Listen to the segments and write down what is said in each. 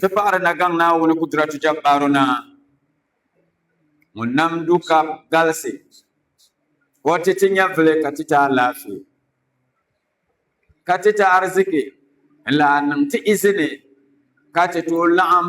Ti paɣiri na gaŋ Naawuni Kudratu Jabbaaru Naa ŋun nam du ka galisi ka o ti ti nyɛvili ka ti ti alaafee ka ti ti ariziki n-lahi niŋ ti izini ka ti tooi laɣim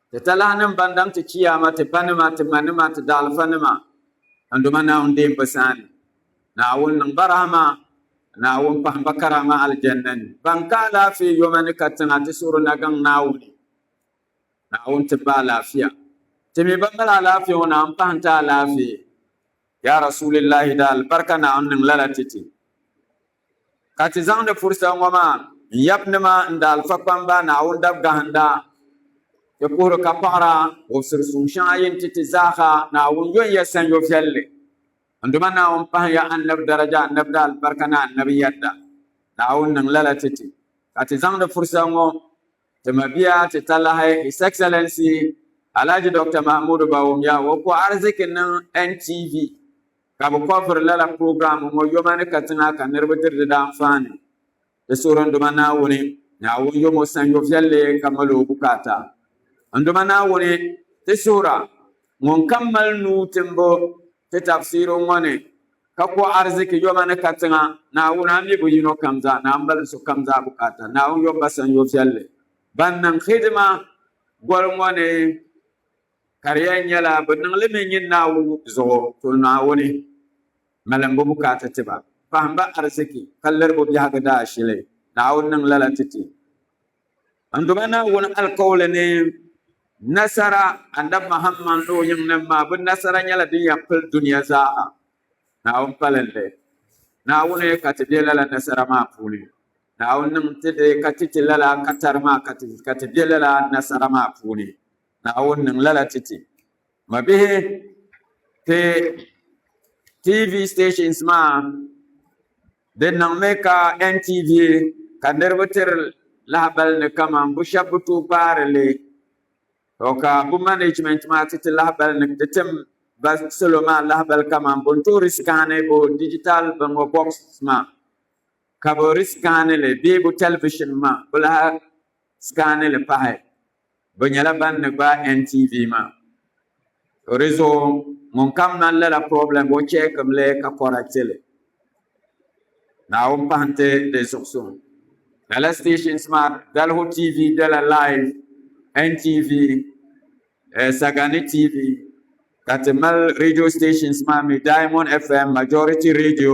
Ti talahinim ban daŋ ti Chiyaama, ti banima, ti manima, ti daɣilifanima, n Duuma Naawuni deem bɛ sani, Naawuni niŋ ba rahima, Naawuni pahim ba karaama Aljanna ni. Ban ka alaafee yoma ni ka tiŋa ti suhiri nagaŋ Naawuni, Naawuni tib ba alaafia. Ti mi ban mali alaafee ŋɔ Naawuni pahim ti alaafee. Yaa Rasuulillahi di alibarika Naawuni niŋ lala ti ti. Ka ti zaŋdi furisa ŋɔ maa n-yab nima n-daalifa kpamba Naawuni dabgahinda. Ti puhiri ka paɣira ŋubisiri suŋ shɛŋa yi ni ti ti zaaha Naawuni yo n-yɛ sanyo viɛlli. N Duuma Naawuni pahim ya annabi daraja, annabi daalibarika ni annabi yɛda. Naawuni niŋ lala ti ti. Ka ti zaŋdi furisa ŋɔ ti mabia ti talahi His Excellency Alhaji Doctor Mahamudu Bawumia ŋɔ ka o ariziki niŋ NTV Ka bɛ kɔbiri lala program ŋɔ yoma ni katiŋa ka niriba diri di daanfaani. Di suhiri n Duuma Naawuni, Naawuni yomo sanyo viɛlli ka mali o bukaata. N Duuma Naawuni, ti suhira, ŋunkam mali nuu timbu ti tafsiri ŋɔ ni, ka kɔ ariziki yoma ni katiŋa, Naawuni, a mi bi yino kam zaa, ni a mali sokam zaa bukaata. Naawuni yomba sanyo viɛlli, ban niŋ hidima goli ŋɔ ni. Ka di yɛn nyɛla bi niŋli mi nyin Naawuni ŋɔ zuɣu, to Naawuni malimbu bukaata ti ba, pahimba ariziki ka liribu biɛhigu daashili. Naawuni niŋ lala ti ti n duba Naawuni alikauli ni nasara. Annabi Muhammad ni o yiŋnim maa, bɛ nasara nyɛla din yɛn pili dunia zaa ha. Naawuni palinli Naawuni ka ti be lala nasara maa puuni. Naawuni niŋ ti di ka ti ti lala katari maa ka ti be lala nasara maa puuni. Naawuni niŋ lala ti ti mabihi ti TV stations maa di niŋmi ka NTV ka niriba tiri lahabali ni kaman bu shɛba bi tooi kpaari li to ka bu management maa ti ti lahabali ni ti tim ba salo maa lahabali kaman bɛ ni tooi risikaani bɛ digital binŋɔ box maa ka bɛ risikaani li bee bɛ television maa bɛ lahi sikaani li pahi. bɛ nyɛla ban ni gbaai NTV maa. To di zuɣu ŋun kam man lala problem o check mi li ka correct li. Naawuni pahi nti di zuɣusuŋ. Lala stations maa Dalihu TV bela live, NTV, eh, Sagani TV, ka ti mali radio stations maa mi Diamond FM, Majority Radio,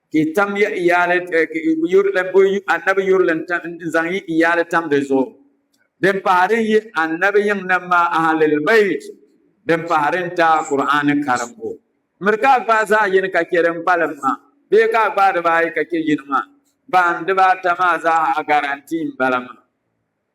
Ka yi tam ya iyaali, Annabi yurili n-zaŋ yi iyaali tam di zuɣu. Din pahi din yi Annabi yiŋnima maa, Ahlil Bayt, din pahi din taai Kur'aani karimbu. Miri ka a gbaai zaɣ yini ka chɛ din kpalim maa, bee ka a gbaai dibaa ayi ka chɛ yini maa. Ban dibaata maa zaa ha a garantii m-bala maa.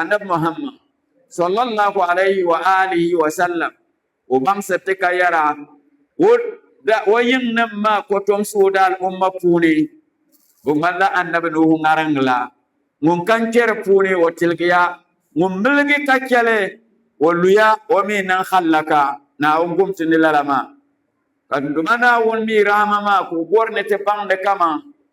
Annabi Muhammad, sallallahu alayhi wa alihi wa sallam, o baŋsiriti ka yɛra, O yiŋnim maa kɔtomsi o daal'umma puuni, o ŋmanila Annabi Nuhu ŋariŋ la, ŋun ka n-kpe di puuni o tiligiya, ŋun miligi ka chɛ li o luya, o mi niŋ hallaka. Naawuni gumti ni lala maa, ka Duuma Naawuni mi rahima maa ka o bɔri ni ti baŋdi kaman.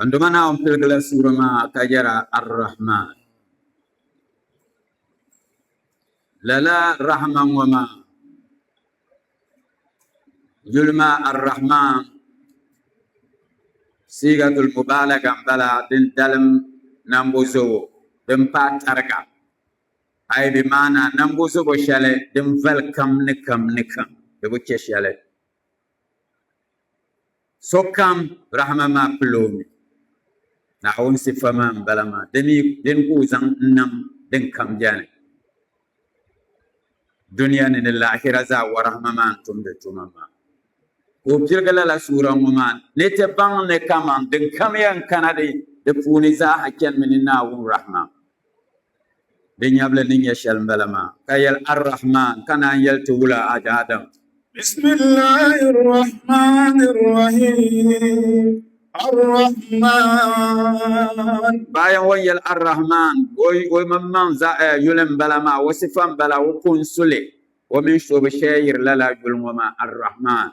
An doma na on pilgila sura maa ka yɛra Ar-Rahman. Lala Rahman ŋɔ maa yuli maa Ar-Rahman siigatul mubaalaga m-bala din dalim nambo zobo din paai tariga ay bi maana nambo zobo shɛli din vali kam ni kam ni kam di bi chɛ shɛli Sokam rahima maa pili o mi. Naawuni sifa maa m-bala maa, di mi beni ka o zaŋ n-nam din kam beni dunia ni ni laahira zaa warahima maa n-tumdi tuma maa. Ka o pirigi lala suura ŋɔ maa ni ti baŋ ni kaman din kam yɛn kana di puuni zaa ha chanimi ni Naawuni rahima. Di nyɛvili ni nyɛ shɛli m-bala maa, ka yɛli, Ar-Rahman, ka naan yɛli ti wula a daadam. Bisimillahi r-Rahmani r-Rahim, Ar-Rahman. Bayan o ni yɛli Ar-Rahman, o yimaŋmaŋ yuli m-bala maa, o sifa m-bala, o ko n-su li, o mini shɔbi shɛya yiri lala yuli ŋɔ maa, Ar-Rahman.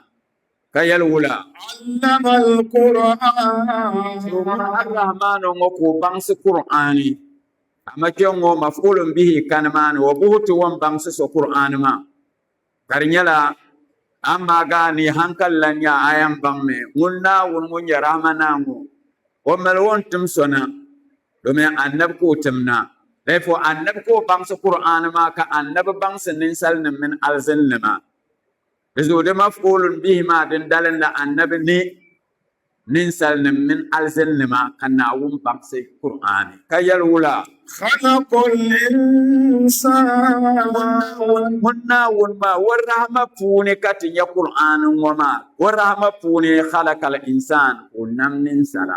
ka yɛli wula allama alquran arrahmanu ŋɔ ka o baŋsi kur'ani amma kpɛ ŋɔ mafulun bihi kani maani wa buhi ti wan baŋsi so kur'ani maa ka di nyɛla amma ga ni hankali lan nya a yan baŋ mi ŋun naawuni ŋun nyɛ rahama naa ŋɔ o mali o ni tim so na domin annabi ka o tim na therefore annabi ka o baŋsi kur'ani maa ka annabi baŋsi ninsalinim mini alzinlima Di zuɣu di maf'ulun bihi maa din dalim la Annabi ni ninsalinim mini alzinninima ka Naawuni baŋsi Kur'aani ka yɛli wula? Khalaqal insaana. Ŋun Naawuni maa o rahima puuni ka ti nya Kur'aani ŋɔ maa. O rahima puuni khalaqal insaana ka o nam ninsala.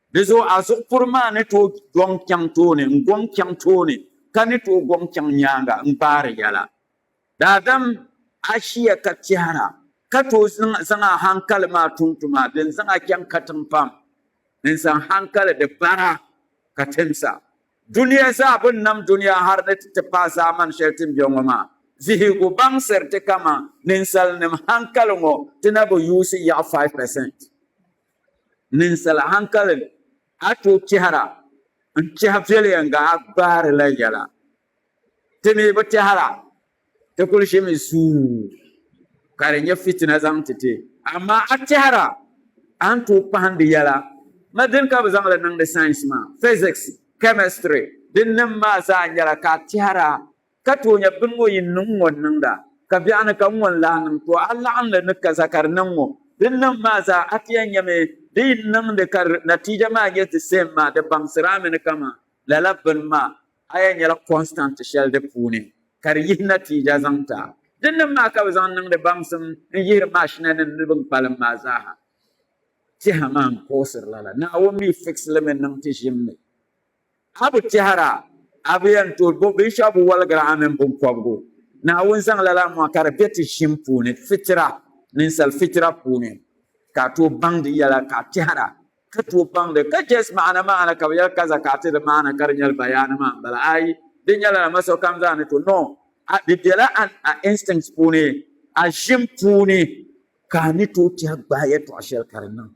Di zuɣu a zuɣu puri maa ni tooi gɔŋ chaŋ tooni n-gɔŋ chaŋ tooni ka ni tooi gɔŋ chaŋ nyaaŋa n-gbaari yɛla. Daadam ashiya ka tɛhira ka tooi zaŋ a haŋkali maa tum tuma din zaŋ a chaŋ katiŋ pam n-zaŋ haŋkali di bara ka timsa dunia zaa bini nam dunia hali ni ti ti paai zaamani shɛli ti ni be ŋɔ maa vihigu baŋsiriti kaman ninsalinim haŋkali ŋɔ ti na bi yuusi yaɣi 5%. ninsal haŋkali ni a tooi tɛhira n-tɛhi viɛlieŋga a gbaari la yɛla. Ti mi bi tɛhira, ti kul ʒimi zuun ka di nyɛ fitina zaŋ ti ti. Amaa a tɛhira a ni tooi kpahindi yɛla ni din ka bɛ zaŋ li niŋdi sains maa, physics, chemistry, din nim maa zaa nyɛla ka a tɛhira Ka toonya bini ŋɔ yin niŋ ŋɔ n-niŋda, ka biɛɣuni ka ŋɔ n-lahi niŋ too a laɣim li ni ka zakari niŋ ŋɔ. Din niŋ maa zaa a ti yɛn nyɛmi di yin niŋdi ka di natiija maa nyɛ di same maa, di baŋsiri a mi ni kaman lala bini maa, a yɛn nyɛla constant shɛli di puuni ka di yihi natiija zaŋ ti a. Din niŋ maa ka bɛ zaŋ niŋdi baŋsim n-yihiri maashinanim ni bini kpalim maa zaaha. Tɛha maa n-kuɣisiri lala, Naawuni mi fix li mi niŋ ti ʒim ni. A bi tɛhira, a bi yɛn tooi bo binshɛɣu bi waligira a mini biŋkɔbigu. Naawuni zaŋ lala mɔɣu ka di be ti ʒim puuni, fitira, ninsal fitira puuni, ka a tooi baŋdi yɛla ka a tɛhira, ka tooi baŋdi ka Jɛs maana maana ka bi yɛli ka zakaati di maana ka di nyɛli bayaani maa m-bala ayi, di nyɛla dama sokam zaa ni to no a, di bela a, a instincts puuni, a ʒim puuni, ka a ni tooi tɛhi gbaai yɛtɔɣ shɛli ka di niŋ.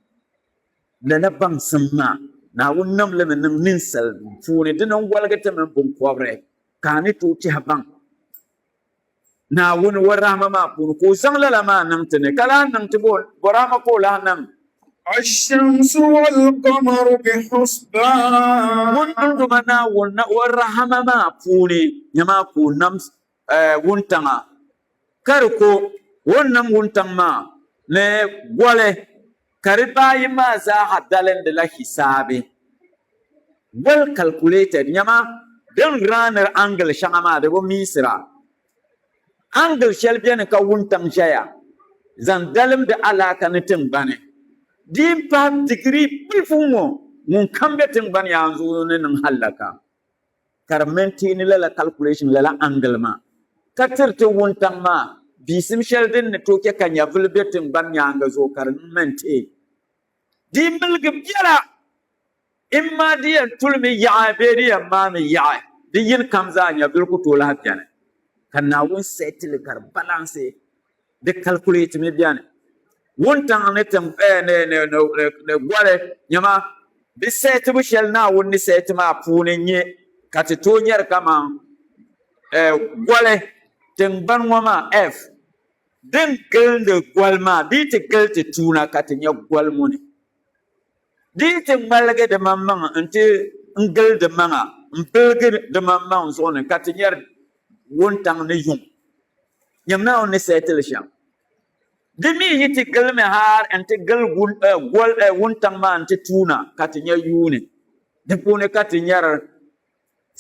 Lala baŋsim maa, Naawuni nam li mi niŋ ninsal nuu puuni, dina n-waligi ti mini biŋkɔbiri, ka a ni tooi tɛhi baŋ Naawuni o rahima maa puuni ka o zaŋ lala maa niŋ ti ni, ka lahi niŋ ti bɔ rahima ka o lahi niŋ. Ash-shamsu wal-qamaru bi-husbaan. Ŋun niŋ duma Naawuni na o rahima maa puuni, nyama ka o nam wuntaŋa ka di ko o ni niŋ wuntaŋ maa ni goli ka di baa ayi maa zaaha dalindila hisaabi goli calculated nyama din raanir angle shɛŋa maa di bi miisira angle shɛli beni ka wuntaŋ ʒɛya zaŋ dalimdi alaaka ni tiŋgbani di n pahi digiri bilifu ŋɔ ŋun kam be tiŋgbani yaanzuɣu ni niŋ hallaka ka di mɛnteeni lala kalikuleeshin, lala angili maa, ka tiri ti wuntaŋ maa biisim shɛli din ni tooi chɛ ka nyɛvuli be tiŋgbani nyaaŋa zuɣu ka di niŋ mɛnteen. Di yi miligi biɛla, imma di yɛn tulimi yaɣi bee di yɛn maami yaɣi, di yinikam zaa nyɛvuli ku tooi lahi beni, ka Naawuni seeti li ka di balansi. Di calculate mi bɛni wuntaŋ ni tiŋ eh, ni, ni, ni, ni, ni goli nyɛma di sɛɛtibu shɛli Naawuni ni sɛɛti maa puuni n-nyɛ ka ti tooi nyɛri kaman eh, goli tiŋgbani ŋɔ maa, earth, din gilindi goli maa dii ti gili ti tuuna ka ti nyɛ goli ŋɔ ni dii ti ŋmaligi dimaŋmaŋ nti n-gili dimaŋa m-biligi dimaŋmaŋ zuɣu ni ka ti nyɛri wuntaŋ ni yuŋ. Nyam Naawuni ni sahi ti li shɛm. Di mi yi ti gilimi hal n-ti gili gol wuntaŋ maa nti tuuna ka ti nya yuuni. Di puuni ka ti nyari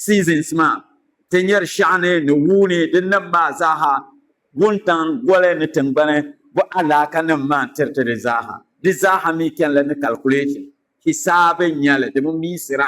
seasons maa, ti nyari shɛɣuni ni wuuni di nim maa zaaha, wuntaŋ, goli ni tiŋgbani bo alaakanim maa n-tiri ti di zaaha. Di zaaha mi chanila ni calculation, hisaabi n-nyɛli di bi miisira.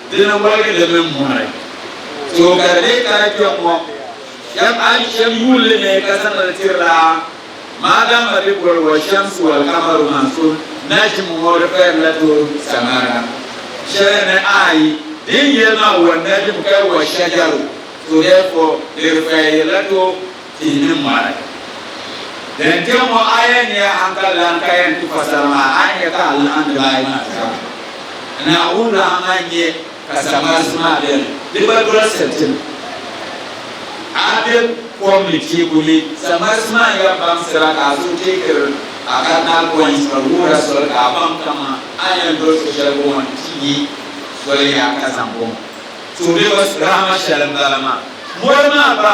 Di ni woligi di mini mɔri. Too ka di lee kana kpɛŋŋɔ, shɛm a ni shɛm yuun li ni ka zaŋ li tiri la, maadaama di boli wa Shamsu wal Kamaru Mansur naʒim ŋɔ di fayiri la too Saŋmariga shɛli ni ayi din yɛli maa wa naʒim ka wa shajaru, so therefore di di fayiri la too. tihi ni mɔri. Din kpe ŋɔ aya ni a hankali lan ka yɛn ti fasara maa, a ni nya ka alahandila ayi maa zaa mi ni Naawuni rahima n-nyɛ ka sagbarisim maa beni. Di gba doli soli ti ni a be kom ni teeku ni, sagbarisim maa n-yɛn baŋsira ka a suhu teekiri a cardinal points ka di wuhira soli ka a baŋ kaman a ni yɛn doli so shɛli bɔŋɔ ni ti nya soli yaha ka zaŋ bɔŋɔ. Suhudoliba rahima shɛli m-bala maa. Mɔri maa gba.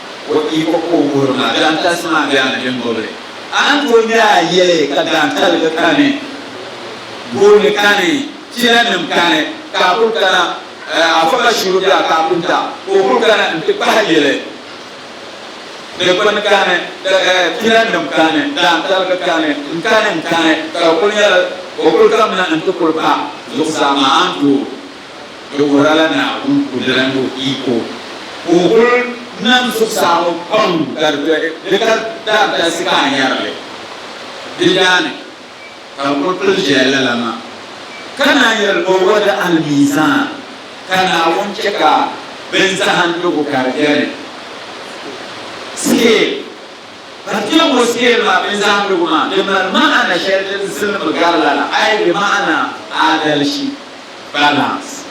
O iko ka o wuhiri ma, daantalisi maa bɛ a ni din bɔbili. A ni tooi nya a yɛli ka daantaligi kani, gooni kani, chinanim kani, ka a kul kana, a fa ka shiri bɛ a kaapunta, ka o kul kana nti kpahi yili. Dikpini kani, chinanim kani, daantaligi kani, n-kani n-kani, ka o kul nyɛla o kul kamina nti kul pa zuɣusaa maa, a ni tooi. Di wuhirila Naawuni kudira ni o iko ka o kul nam zuɣusaa ŋɔ pam ka di be di ka daa galisi ka a nyari li. Di daa ni ka bɛ kul pili ʒiɛya lala maa, ka naan yɛli ni o wadi alimiizan, ka Naawuni chɛ ka bɛn zahindigu ka di beni, scale, ka ti yɛm o scale maa, bɛn zahindigu maa, di mali ma'ana shɛli din zilinimi gari lala, ai bi ma'ana aadalishi. Balance.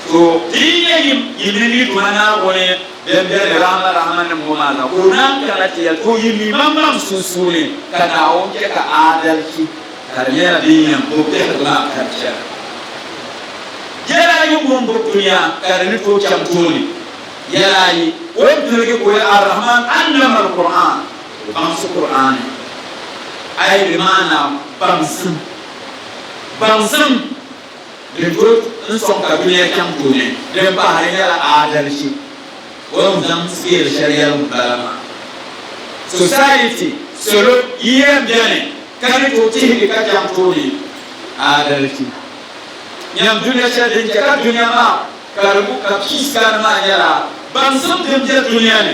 So ti yi nya yim yi ni mi Duuma Naawuni bɛn be di rahama rahimanim ŋɔ maa ka o naan kana ti yɛli, O yi mi maŋmaŋ sunsuuni ka Naawuni chɛ ka aadalchi ka di nyɛla din yɛn bo biɛhigu maa ka di chana. Yɛla ayi ŋun bo dunia ka di ni tooi chaŋ tooni. Yɛla ayi, O ni tiligi ka o yɛli, Ar-Rahmaan allama al-Kur'aan, O baŋsi Kur'aani. Ayi bi maana baŋsim. Baŋsim din tooi n sɔŋ ka dunia chaŋ tooni din pahi hali nyɛla aadalichi o ni zaŋ sigiiri shɛli yɛligu bala maa. Society, salo, yiya n beni ka ni tooi tihigi ka chaŋ tooni aadalichi. Nyam dunia shɛli din che ka dunia maa karibu ka peace kani maa nyɛla baŋsim din be dunia ni.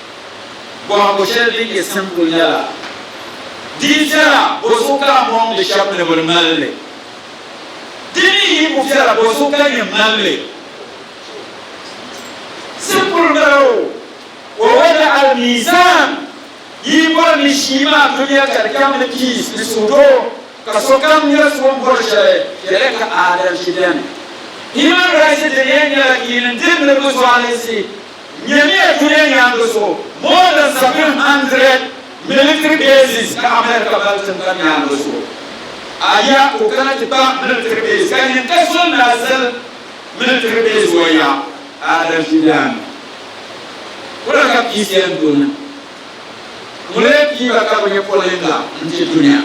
Bɔhigu shɛli din nyɛ simple nyɛla, di yi viɛla, bɔzuɣu ka a mɔŋdi shɛba ni bɛ di mali li? Di mi yi ku viɛla, bɔzuɣu ka nyin mali li? Simple m-bala o. Wa wada al-mizan, yi yi bɔri ni shii maa dunia ka di chaŋ ni peace ni suhudoo, ka sokam nyari so m-bɔri shɛli, yɛliya ka aadalchi beni. Human rights diniya nyɛla nyini n-diri niriba zualisi. Nyamiya duniya nyaaŋa zuɣu, more than 700 military bases ka America mali tiŋgbani nyaaŋa zuɣu. A ya ka o kana ti kpa military base ka nyin ka so n lahi zali military base o ya? Adam Gideon, Wala ka peace yɛn doni? Ŋunila piiba ka bɛ nyɛ polinga n-ti dunia.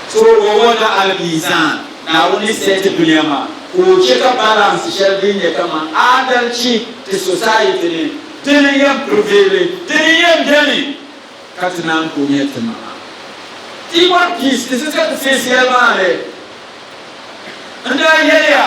So o wanda Al-Mizan, Naawuni ni seeti dunia maa ka o chɛ ka balance shɛli din nyɛ kaman aadalichi ti society ni, dini n-yɛn prevaili, dini n-yɛn beni ka ti naan ku nya ti maŋa. Ti yi bɔri peace, di sitiri ti face yɛlimaŋli n-daa yɛliya.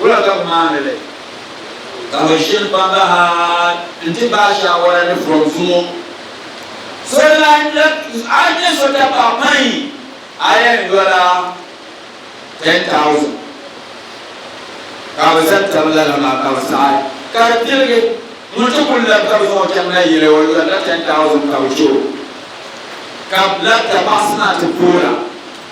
Wula ka bɛ maani li? Ka bɛ ʒiri kpamba ha nti baai shaawara ni buɣim zuŋɔ. So lan lab a ni nyɛ so dabba pain iron yɔla 10,000. Ka bɛ zaŋ tabi lala maa ka bɛ saɣi ka di piligi. Ŋun ti kul lab ka bɛ zaŋ o chaŋ na yili o yɔri la 10,000 ka bɛ chɛ o ka bɛ lab dapaɣisi maa ti poora.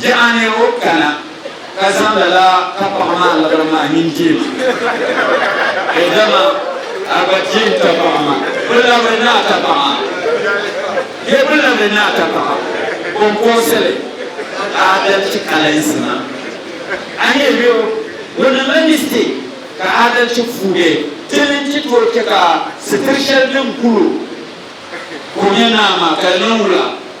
Di a nira o kana ka zaŋ lala ka paɣa maa labiri maa nyin deei ma o dama a gba deei n ta paɣa ma bi labiri ni a ta paɣa bee bi labiri ni a ta paɣa konkoosili aadalci kalinsi ma a ni yuli o o niŋla mistake ka aadalci fuuge ti ni ti tooi che ka sitiri shɛli din kul o ko nyɛ naa maa ka di niŋ wula.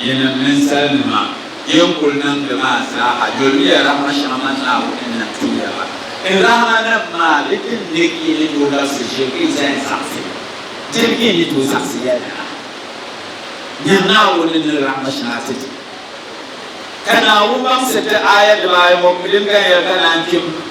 Yinim ninsalinima, yin kul niŋdi maa zaaha, yolimiya rahima shɛŋa man Naawuni ni ti ya la. N rahimanim maa bi tim ni yi ni tooi labisi ʒiligi zaya zaɣisi ya, dini ka yi ni tooi zaɣisi ya lala? Nya Naawuni ni rahima shɛŋa ti di. Ka Naawuni baŋsi ti aaya dibaayi ŋɔ piliganya ka naan kpim.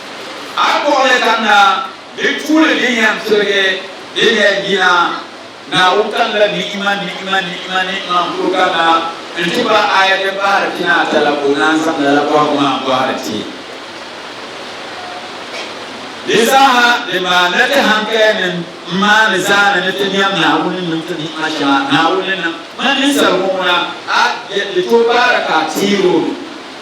A kpuɣili kamina di puuni din yɛn pirigi din yɛn yina Naawuni kamila ni'ima ni'ima ni'ima ni'ima n-kuli kamina n-ti ba aya din pahiri pinaata la ka o naan zaŋ lala kɔhigu maa n-bɔhiri ti. Di zaaha din maa na ti hankalinim m-maani zaani ni ti nɛm Naawuni ni niŋ ti ni'ima shɛŋa Naawuni ni niŋ ma ninsaligu ŋuna, a yɛn di tooi baara ka a teeri o nuhi?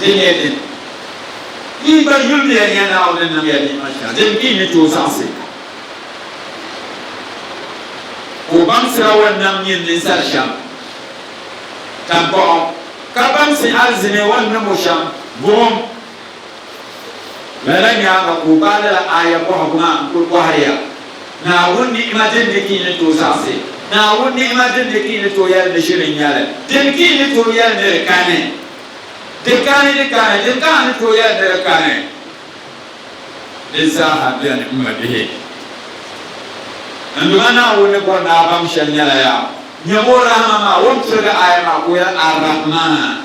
Di nyɛla din yi gba yuliya ni ya Naawuni ni niŋ ya ni'ima shɛŋa din bɛ yi ni tooi zaŋsi ka o baŋsi a wan nam nyin ninsal shɛm taŋkpaɣu, ka baŋsi alizini wan nam o shɛm buɣim. Lala nyaaŋa ka o baai lala aaya bɔhigu maa n-kul bɔhiri ya, Naawuni ni'ima din ni ka yi ni tooi zaɣisi, Naawuni ni'ima din ni ka yi ni tooi yɛli ni ʒiri n-nyɛ li, dini ka yi ni tooi yɛli ni di kani? Di kani, di kani, dini ka a ni tooi yɛli ni di kani? Di zaaha beni, m mabihi. N duma Naawuni ni bɔri ni a baŋ shɛli nyɛla ya nyɛm o rahima maa, o ni tiligi aaya maa ka o yɛli, Ar-Rahman.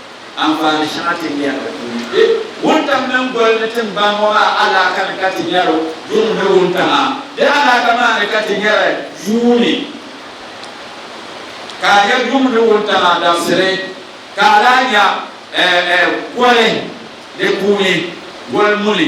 Anfaani shɛŋa ti ni yɛn tooi yi be wuntaŋ mini goli ni tiŋgbani ŋɔ maa alaaka ni ka ti nyari yuŋ ni wuntaŋa. Di alaaka maa ni ka ti nyari yuuni, ka a nya yuŋ ni wuntaŋa dabisili, ka a lahi nya goli di puuni goli muni.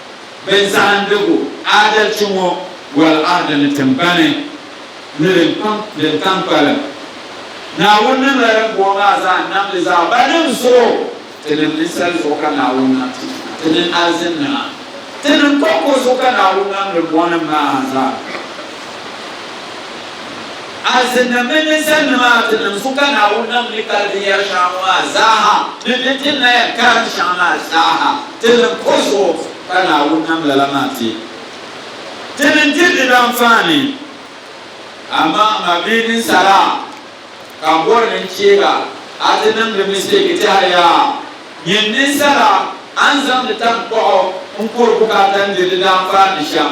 bɛ zaandigu aadalchi ŋɔ boli Ahadi ni tiŋgbani ni din tam kpalim. Naawuni niŋla din booi maa zaa n-namdi zaa ba nim zuɣu, ti nim ninsal zuɣu ka Naawuni nam ti ʒina, ti nim alizin nima, ti nim kɔŋko zuɣu ka Naawuni namdi mɔnim maa zaa. Azinda mini di sandima a ti niŋ su ka Naawuni nam ni ka di yɛri shɛŋa ŋɔ maa zaaha ni ni ti na yɛn kariti shɛŋa maa zaaha ti niŋ kuɣ zuɣu ka Naawuni nam lala maa ti ti ni diri di danfaani. Amaa a ma bee ninsala ka n bɔri ni n chɛ ba a ti niŋdi mistɛki tɛhiri ya, nyin ninsala a ni zaŋdi taŋkpaɣu n-kuri bukaata n-diri di danfaani shɛm.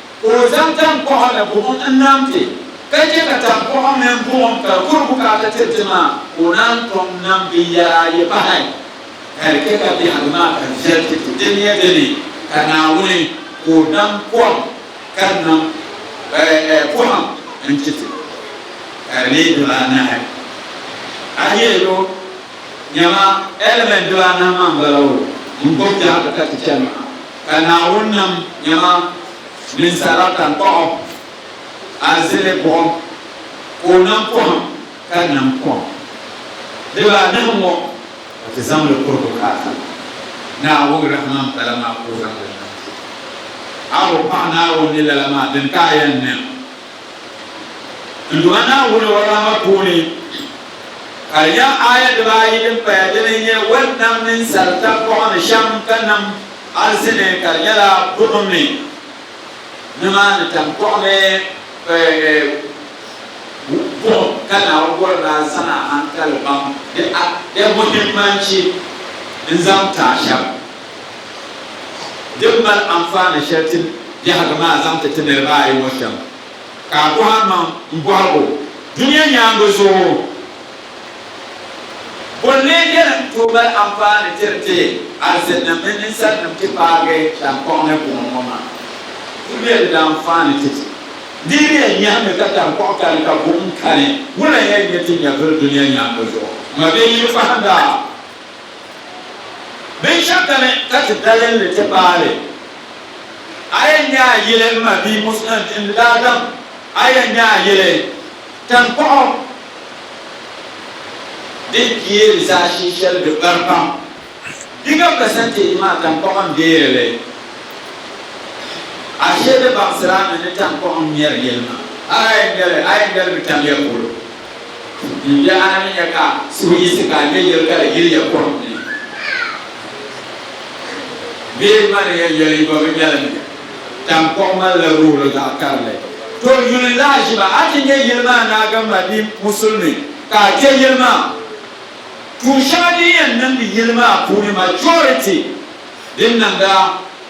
Ka o zaŋ taŋkpaɣu ni buɣim n-nam ti, ka chɛ ka taŋkpaɣu mini buɣim ka di kuri bukaata tiri ti maa, ka o naan tom nam binyɛr ayi pahi, hal chɛ ka biɛhigu maa ka viɛl ti ti. Di nyɛ di ni ka Naawuni ka o nam kom ka di nam pɔhim n-ti ti, ka di leei dibaa anahi. A yi yɛl o, Nyama, ɛliment dibaa anahi maa m-bala o, n-gbibi biɛhigu ka ti chani maa. Ka Naawuni nam nyama ninsala tankpaɣu arzili buɣim, ka o nam pohim ka nam kom dibaa anahi ŋɔ, ka ti zaŋ li kuri bukaata Naawuni rahiman pala maa ka o zaŋ li nam ti. A bo paɣa Naawuni ni lala maa din ka a yɛn niŋ? N lu a Naawuni o rahama puuni, ka di nyɛ aaya dibaayi din paya dini n-nyɛ, Wal nam ninsal tankɔɣu ni shɛm ka nam arisi ni, ka di nyɛla buɣim ni nimaani tankɔɣu ni buɣim ka Naawuni bɔri ni a zaŋ a haŋkali baŋ di a, di muhimmanci n-zaŋ ti a shɛm. Din mali anfaani shɛli ti biɛhigu maa zaŋ ti ti niriba ayi ŋɔ shɛm ka a bɔhi a maŋ m-bɔhigu dunia nyaaŋa zuɣu, Bɔ n-lee beni n-tooi mali anfaani tiri ti alizinnim mini ninsalinim ti paagi taŋkpaɣu ni buɣim ŋɔ maa? Zuliya di daa anfaani ti ti niriya nyahimi ka taŋkpaɣu kani ka buɣim kani, wula n-yɛn nyɛ ti nyɛvili dunia nyaaŋa zuɣu? Mabie yili pahinda! Binshɛɣu kani ka ti dalinli ti paai li? A yɛn nya a yili m ma bia Muslim n daa daŋ a yɛn nya a yili tankpaɣu din kpeeri zaashee shɛli di bari pam bigger percentage maa tankpaɣu n deeri li ashee di baŋsirami ni tankpaɣu n mɛri yili maa a yɛn nyali a yɛn nyali bi tamiya polo. N daa ni nya ka so yiɣisi ka nya yɛli ka di yiliya kom ni bee maniya yɛli gba bi nyɛlimi. Taŋkɔŋ malila rooli zaɣ karili. To yuli lahiʒiba, a ti nya yili maa naagamba bee musulimi ka a kpe yili maa. Tuun shɛŋa din yɛn niŋdi yili maa puuni majority din niŋda.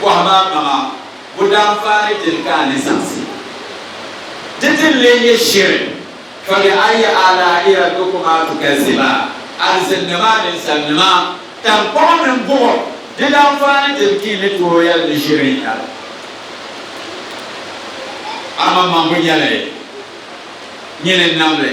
Bɔhi ma maŋa, bo daa faari dini ka a ni zaŋsi di ti ni lee nyɛ shiri? Fabi ayi alaa'i rabbikuma tukazziba, Alizinli maa ninsalinima, taŋkpaɣu mini buɣim di daa faari dini ka yi ni tooi yɛli ni shiri n-nyɛ li? Aman maŋbu nyɛla yi nyini n-nam li.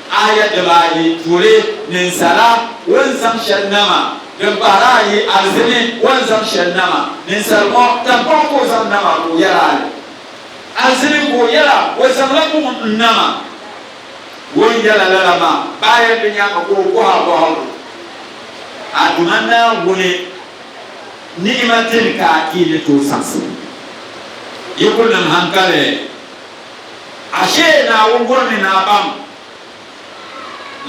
Aya dibaayi tuuli ninsala wunzam shɛli nama, din pahiri ayi alizini wunzam shɛli nama. Ninsal ŋɔ taŋkpaɣu ka o zaŋ nama ka o yɛli ali. Alizini ka o yɛla o zaŋla buɣim n-nama. O ni yɛla lala maa bɛ aya di nyaaŋa ka o bɔhi a bɔhigu, A Duuma Naawuni, ni'ima dini ka yi ni tooi saɣisi yi kuli niŋ haŋkali? Ashee Naawuni bɔrimi naa pam.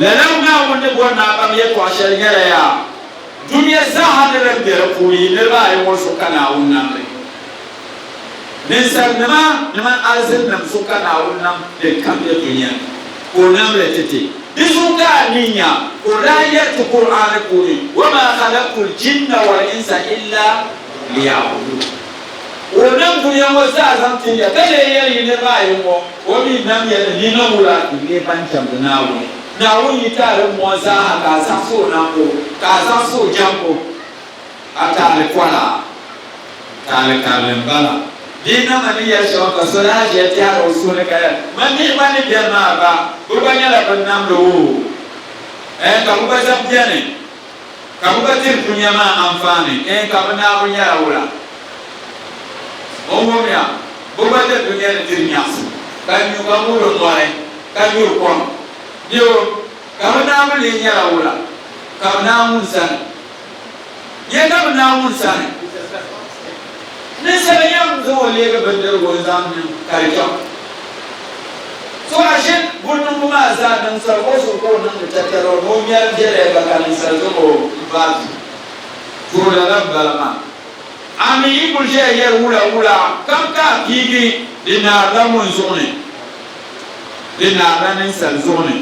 Lala Naawuni ni bɔri naa pam yɛltɔɣa shɛli nyɛla yaa dunia zaaha ni din be di puuni yi niriba ayi ŋɔ zuɣu ka Naawuni nam li. Ninsalinima ni mani alizininim zuɣu ka Naawuni nam din kam be dunia ni, ka o nam li titi. Di zuɣu ka a mi nya ka o daa yɛli ti Kur'aani puuni, Wa maa khalaqtul jinna wal insa illa liya'buduun. Ka o nam dunia ŋɔ zaa zaŋ tin ya, ka lee yɛli yi niriba ayi ŋɔ, o mi nam ya ni nina ŋɔ la di nyɛ ban jɛmdi Naawuni. Naawuni yi taali m mɔɣu zaa ha ka a zaɣisi o nambu, ka a zaɣisi o jɛmbu, a taali kɔla, taali karili m-bala. Bee nama ni yɛli shɛba ka so daa ʒiya tɛhiri o suhu ni ka yɛli, Man mihi gba ni beni maa gba, bɛ gba nyɛla bɛn namdi o? Ɛɛ, ka bɛ gba zaŋ beni? Ka bɛ gba diri dunia maa anfaani? Eei ka bɛ Naawuni nyɛla wula? O wumya bɛ gba ni dunia ni diri nyaɣisim, ka nyu ka ŋubiri mɔri, ka nyuri kom. Bɛ o, ka bɛ Naawuni lee nyɛla wula? Ka bɛ Naawuni sani? Nyɛ ka bɛ Naawuni sani? Ninsal yɛm zaŋ o leegi bindirigu n-zaŋ niŋ ka di chaŋ o. So a ʒini buniŋgu maa zaa niŋ sal o zuɣu ka o niŋdi tatari o ni o ŋmɛri biɛlaya ba ka ninsal zaŋ o m-baai duu. Too lala m-bala maa. A mi yi kul ʒiya yɛri wula wula kam ka a piigi, di naarila ŋun zuɣu ni? Di naarila ninsal zuɣu ni.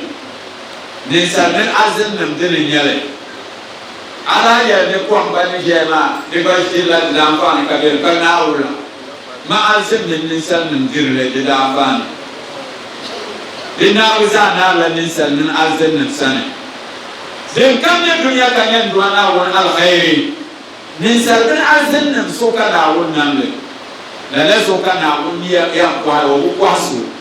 Ninsal mini azinnim dini n-nyɛ li. A lahi yɛli ni kom ban ni ʒɛya maa di gba ʒirila di daanfaani ka bɛ ni ka Naawuni la, maɣisim mini ninsalinim diri li di daanfaani. Di nahigu zaa naarila ninsal mini arzininim sani. Dinkam nyɛ dunia ka nyɛ Nduwa Naawuni alheri. Ninsal mini arzininim so ka Naawuni nam li. Lala so ka Naawuni ni yɛn pɔhiri o, o bi pɔhi so.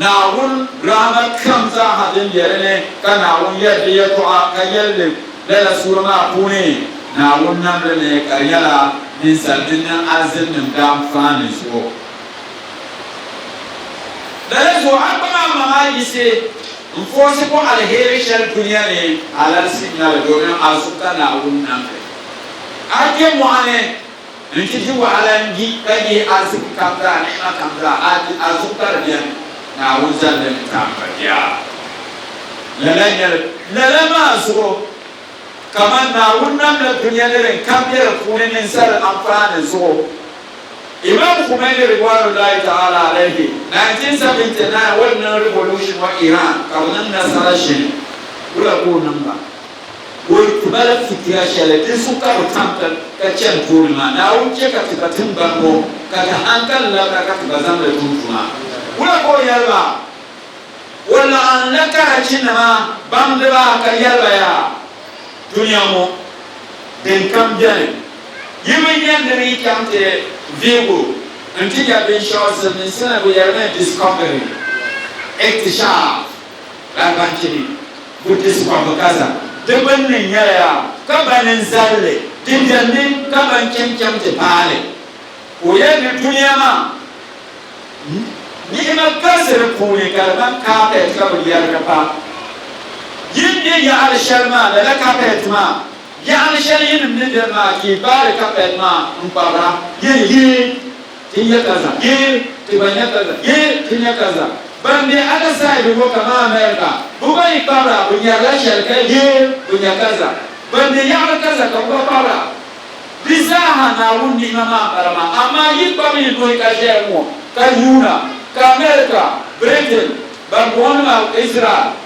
Naawuni rahima kam zaa ha din be di ni, ka Naawuni yɛri di yɛltɔɣa ka yɛli li lala suura maa puuni, Naawuni nam li ni ka di nyɛla ninsal mini ni alizinnim daam faan ni zuɣu. Lala zuɣu a kpaŋ a maŋ a yiɣisi n-foosi bɔ aliheri shɛli dunia ni alalisi nya li domin a zuɣu ka Naawuni nam li. A kpe mɔɣu ni. N ti di wahala n-di ka yihi ariziki kam zaa, ni'ima kam zaa, a di a zuɣu ka di beni. Naawuni zalli ni tam pa di a. Lala nyɛla, lala maa zuɣu, kaman Naawuni namla dunia ni din kam be di puuni ninsal anfaani zuɣu. Imaam Khumaini ridwanullahi ta'ala alayhi, 1979 o ni niŋ revolution wa Iran ka bɛ niŋ nasara shini, wula ka o niŋ ba? Ka o yi ti ba la fitira shɛli din su ka bi tam ka chani tooni maa, Naawuni chɛ ka ti ba tiŋgbani ŋɔ ka di hankali labira ka ti ba zaŋ li tum tuma. Wula ka o yɛli ba? O laɣim la Karachinima baŋdiba ka yɛli ba, Yaa dunia ŋɔ dinkam beni, yi bi nya di ni chaŋ ti vihigu nti nya binshɛɣu Silimiinsi ni bi yɛli mi discovery, iktishaf, Larabanchi ni. Buddhist kɔhimbu kaza di gbunni nyɛla ka ba ni n-zalli di biɛri ni ka ba n-cham cham ti paai li. Ka o yɛli ni dunia maa ni'ima galisi di puuni ka di ŋmani carpet ka bi yɛrigi pa yi ni be yaɣili shɛli maa lala carpet maa yaɣili shɛli yinim ni beni maa ka yi gbaai carpet maa n-kpabira yi ni yi ti nya kaza yee, ti gba nya kaza yee, ti nya kaza. Ban be other side ŋɔ kaman America, bɛ gba yi kpabira bɛ nyarila shɛli ka yee, bɛ nya kaza. Ban be yaɣili kaza ka bɛ gba kpabira. Di zaaha Naawuni ni'ima maa m-bala maa. Amaa yi kpabi yi nuhi ka ʒɛya ŋɔ ka yuuna ka America, Britain, ban bɔŋɔ ni maa Israel,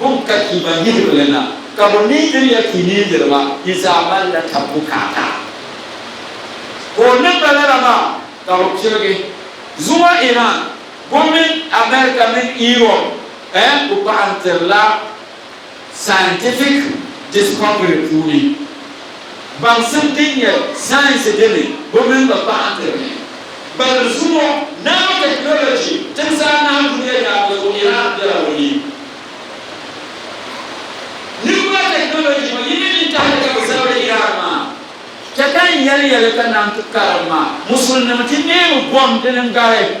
Bɔ n-ka ti ba niriba la na, ka bɔ needir ya ti needir ba? Yi zaa malila taba bukaata. Ka o niŋ ba lala maa, ka bɛ pirigi. Zuŋɔ Iran gomnanti America mini Europe eh ku paɣantirila scientific discovery puuni. Baŋsim din nyɛ sayensi dini bi mini ba paɣa n-ti bihi. Gbalibu zuŋɔ, nanotechnology timsi anahi duniya yaamŋa zuɣu Iran bela o ni. Nuclear technology ŋɔ yini mini tahili ka bi zabiri Iran maa. Chɛ ka n yɛli ya li ka naan ti karim ma, Musulinima ti neemi gom dini n-gari.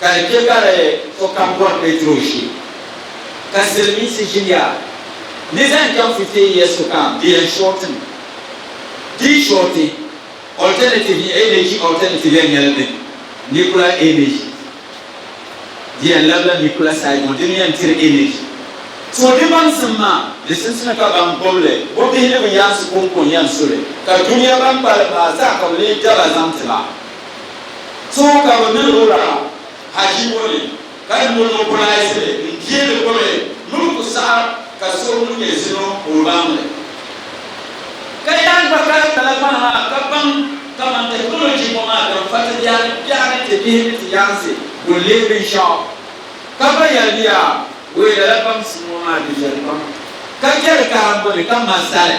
Ka di chɛ ka di sokam bɔri Petro ʒi, ka silimiinsi ʒiya ni zaŋ chaŋ fifiehiya sokam di yɛn shɔɔti mi. Di yi shɔɔti, alternative ni energy alternative yɛn nyɛla din nuclear energy. Di yɛn labila nuclear side ŋɔ, di ni yɛn tiri energy. So di baŋsim maa, di simsina ka ban gbubi li bɔ bihi ni bɛ yaansi kɔŋko n-yɛn su li, ka dunia ban kpalim maa zaa ka bɛ lee daba zaŋ ti ba. Zuɣu ka bɛ miri o Rahab haʒi ŋɔ ni, ka niŋ o nɔpɔlaayisili n-deeri o ni miri ku saɣa ka so ŋun nyɛ zino ka o baŋ li. Ka yaa gba kari talakpana maa ka baŋ kaman technology ŋɔ maa din fa ti biɛha ni biɛha ni ti bihi ni ti yaansi kul leei binshɛɣu, ka ba yɛli ni yaa wee lala baŋsim ŋɔ maa di viɛli pam ka biɛri karimbu ni ka ma zali.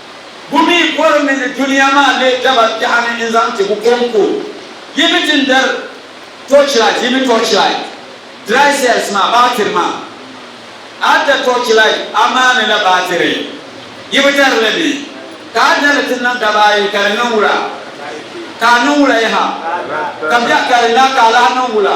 Bu mi bɔri mi ni dunia maa lee daba biɛɣu ni n-zaŋ ti bu kɔŋko? Yi mi ti ni dari torchlight, yi mi torchlight, dry cells maa, baatiri maa. A da torchlight, a maani la baatiri. Yi bi dari li mi. Ka a da li ti niŋ daba ayi, ka di niŋ wula? Ka a niŋ wula yaha? Ka biɛɣu ka di la, ka a lahi niŋ wula?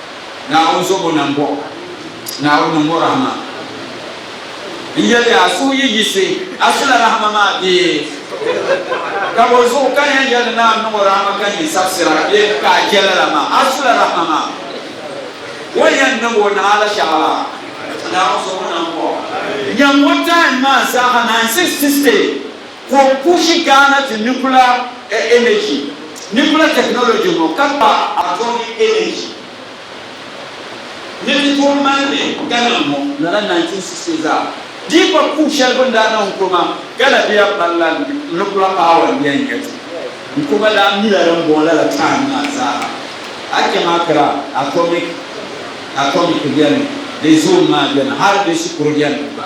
Naawuni zobo na m-bɔŋɔ, Naawuni niŋ o rahima. N yɛli a, suhu yi yiɣisi, a sula rahima maa bee? Ka bɔ zuɣu ka n yɛn yɛli ni a niŋ o rahima ka nyin sabisira bee ka a je lala maa? A sula rahima maa. O ni yɛn niŋ o naha la shɛɣu la, Naawuni zobo na m-bɔŋɔ. Nyam o time maa zaaha, 96 state. Ka o pushi Ghana ti nuclear energy, nuclear technology ŋɔ ka kpa atomic energy ni ti tooi mali li Ghana ŋɔ lala 1960 zaa. Di yi kpa puu shɛli bini daa niŋ Nkrumah, Ghana bɛ ya pari la nuclear power n yɛn nya ti. Nkrumah daa mi la din bɔŋɔ lala time maa zaaha. A cham Accra, atomic atomic beni, di zoom maa beni hali di shikuru jɛndi gba.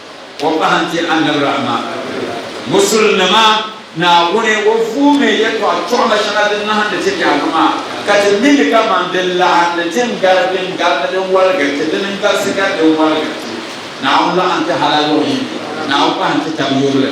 O pahi n-ti Annabi Rahima. Musulinima, Naawuni o vuumi yɛltɔɣa chɔɣima shɛŋa din nahindi ti nyaaŋa maa, ka ti mi li kaman din laɣindi ti n gari din gari ni din waligiri ti dini n galisi gari din waligiri ti. Naawuni laɣindi ti hal ayɔbu yini. Naawuni pahi n-ti tab yurili.